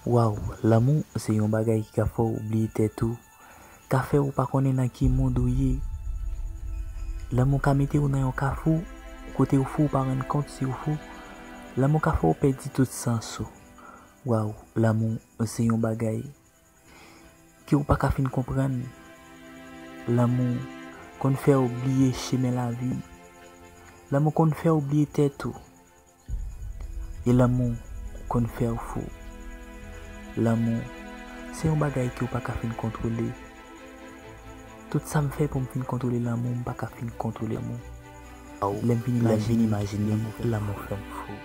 Waw lanmou se yon bagay ki ka fè w bliye tèt ou, ka fè ou pa konnen nan ki mond ou ye. Lanmou ka mete ou nan yon kafou kote ou fou ou pa rann kont si ou fou. Lanmou ka fè ou pèdi tout sans ou. Waw lanmou se yon bagay. ke ou pa ka fin konprann. Lanmou konn fè ou bliye chemen lavi. Lanmou konn fè ou bliye tèt ou. E lanmou konn fè ou fou. Lanmou se yon bagay ke ou pa ka fin kontwole. Tout sa m fè pou m fin kontwole lanmou m pa ka fin kontwole lanmou. Lè m fin imajine lanmou fè m fou.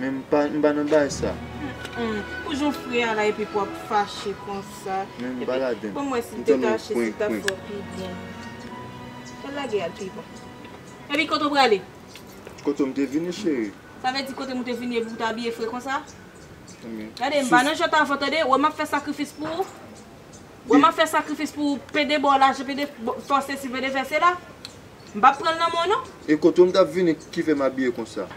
Men m pa m pa nan bay sa. Humm pou jan w fre a la epi pou wap fache konsa. Men m pa ladann. Banm wè si detache se tap fè w pi byen. Fè l lage a l pi bon. Epi kote w prale? Kote m te vini cheri. Sa vle di kote m ou te vini epi ou te abiye fre konsa? Gade m pa nan jan t avan tande, wè map fè sakrifis pou ou. Wèm ap fè sakrifis pou ou pede baw lajan pede fè w sesi pede fè sela m pap pranl nan men w non. E kote w m tap vini kifè m abiye konsa.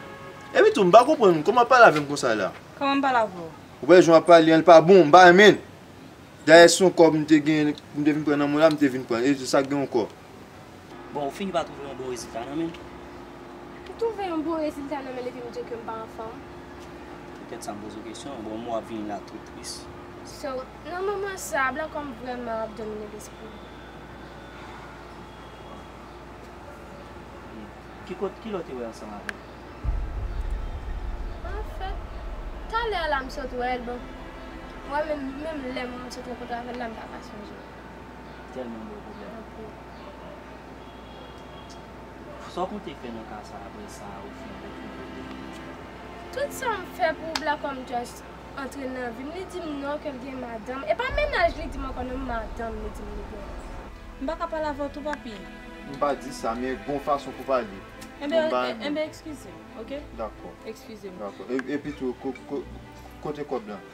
Epi tou m pa konprann kòman wap pale avèm konsa la. Kòman m pale avè w? Ou wè jan wap pale an li pa bon m pa renmen l. Dayè si se yon kòb m te genyen m te vin pran nan men w la m te vin pranl e se sak gen yon kòb. Bon ou fini pa twouve yon bon rezilta nan menl? M twouve yon bon rezilta nan menl epi m di w ke m pa anfòm. Poutèt sa m poze w kesyon an. Bon m wè w ap vini la tou tris. So, nan moman sa a, blan kò m vrèman ap domine lespri m. Ki kot, ki lè w te wè l ansanm avè l? Anfèt, talè a la m sot wè l, bon, mwen menm, menm lè m sot rankontre avè l la m pa ka sonje. Tèlman bon pwoblèm. Sa w konte fè nan ka sa a apre sa ou fin retwouve li an? Tout sa m fè pou w la kòm Just antre nan vi m li di m non ke l gen madanm. E pa mennaj li di m ankò non m madanm li di m li gen. M pa ka pale avè w tou papi. M pa di sa men gon fason pou pale. Enben m bay anyen. Enben ekskize m ok. Dakò. Ekskize m. Dakò. Epitou kote kòb la?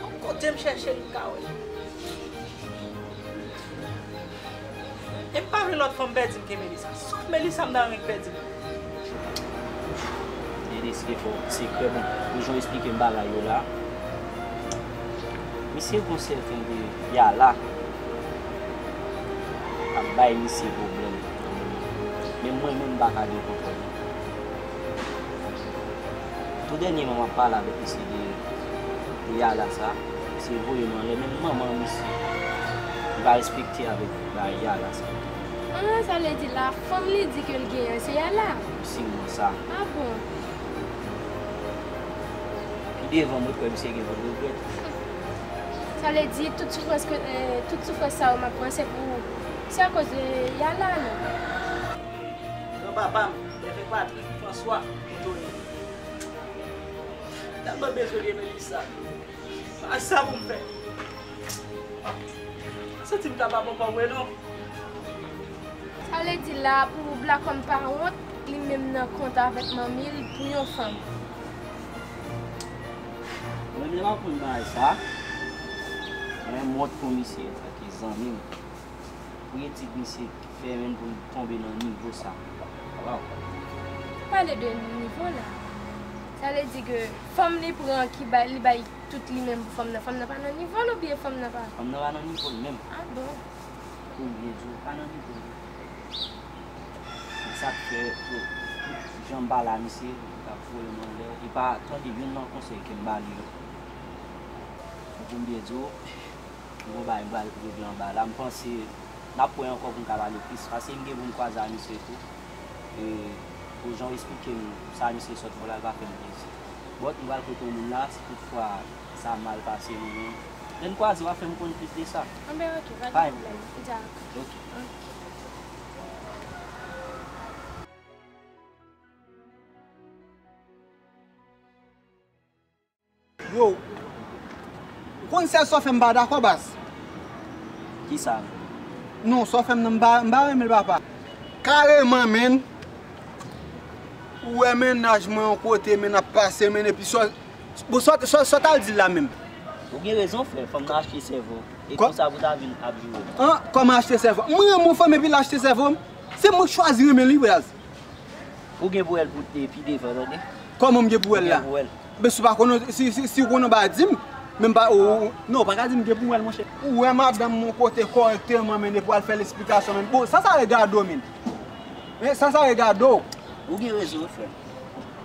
Bon kote m chèche l m ka wè l. E m pa vle lòt fanm pèdi m ke Melisa. Sof Melisa m ta renmen ki pèdi m. Denis e fò sekrè bon pou jan w esplike m bagay yo la. Misye gon sèten de yala k ap bay misye pwoblèm nan moman. Men mwen menm m pa ka gen kontwòl. Tou dènyèman map pale avèk misye de Yala sa, misye voye nou anlè menm manman misye li pa respekte avèk bagay Yala sa. An an sa vle di la fanm li di ke l genyen an se Yala? M siw nan sa. Ah bon. Pi devan mwen kwè misye gen pou l regrèt. Humm. Sa vle di tout soufrans ke tout soufrans sa yo map pran se pou se akoz de Yala non. Gran papa m, lè fè fatra. François Tony Mwen tèlman bezwen gen Melissa Ak sa pou m fè Mwen santi m ta pa bon pa vre non Sa vle di la pou Blacom pa wont li menm nan kont avèk manmi l pou yon fanm. Manmi lan konn bagay sa Men m wont pou misye paske zanmi m Pou etid misye. fè menm pou l tonbe nan nivo sa waw. Ou pale de nivo la. Sa vle di ke fanm li pran ki bay li bay tout li menm pou fanm nan fanm nan pa nan nivo l oubyen fanm nan pa. Fanm nan pa nan nivo l menm. Ah bon. Pou m byen di w pa nan nivo l. Se sak fè tout jan m pale a misye li ap voye m anlè li pa tande youn nan konsèy ke m ba li yo. Pou m byen di w. Bon bagay m pral rive anba la m panse nap wè ankò poum ka pale plis pase m gen poum kwaze a misye tou e pou janw esplikem sa misye sot fè la pa fèm plezi but m pral kote yon moun la si tout fwa sa mal pase nou menm lèn kwaze wap fèm konn plis de sa Anben ok pa gen pwoblèm m dja ok. Yo. Ou konn sèl sò fèm pa dakò baz. Kisa? Non sò fèm nan m pa renmenl papa. Kareman menn Ou wè mennaj mwen yon kote menn ap pase menn epi sò Bon sò tal dil la menm. Ou gen rezon frè fanm nan achte sèvo e konsa pou ta vin ap joure. An kòman achte sèvo? M renmen yon fanm epi l achte sèvo m? Se mwen k chwazi renmen li baz. Ou gen pou wèl pou pi devan tande. Kòman m gen pou wèl la? Ebyen si w pa konnen, si w konnen w pa di m. Men m pa ou. Non ou pa ka di m gen pou m wèl monchè. Ou wè madanm m yon kote kòrèkteman men depi w al fè l esplikasyon men. Bon sa sa regade w menm? Sa sa regade w? Ou gen rezon wi frè m.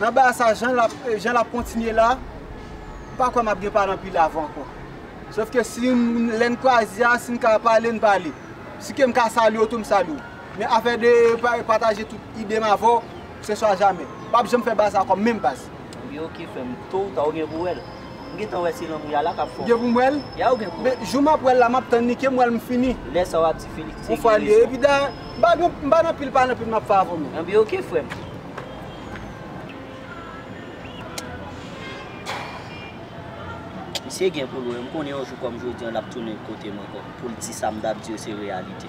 Nan bagay sa jan lap kontinye la, m pa kwè map gen pale anpil avè w ankò. Sof ke si lè n kwaze a, si n ka pale n pale. Si ke m ka salye w tou m salye w. Men afè de pataje tout ide m avè w, se swa jamè. M pap janm fè baz la kòm menm baz. Ebyen ok frèm, to ou ta ou gen pou wèl. M gentan wè se lanmou ya la kap fè w. Ou gen pou m wèl? Ya ou gen pou wèl. Jou map wèl la map tann li, kem wèl m fini. Lè sa wap di Felix te gen rezon. Ou fwa li. Epi da, m pa nan pil pale anpil map fè avè w menm. Ebyen ok frèm. Misye gen pou l wè, m konnen yon jou kòm jodi an l ap tounen kote m ankò pou l di sa m t ap di yo se reyalite.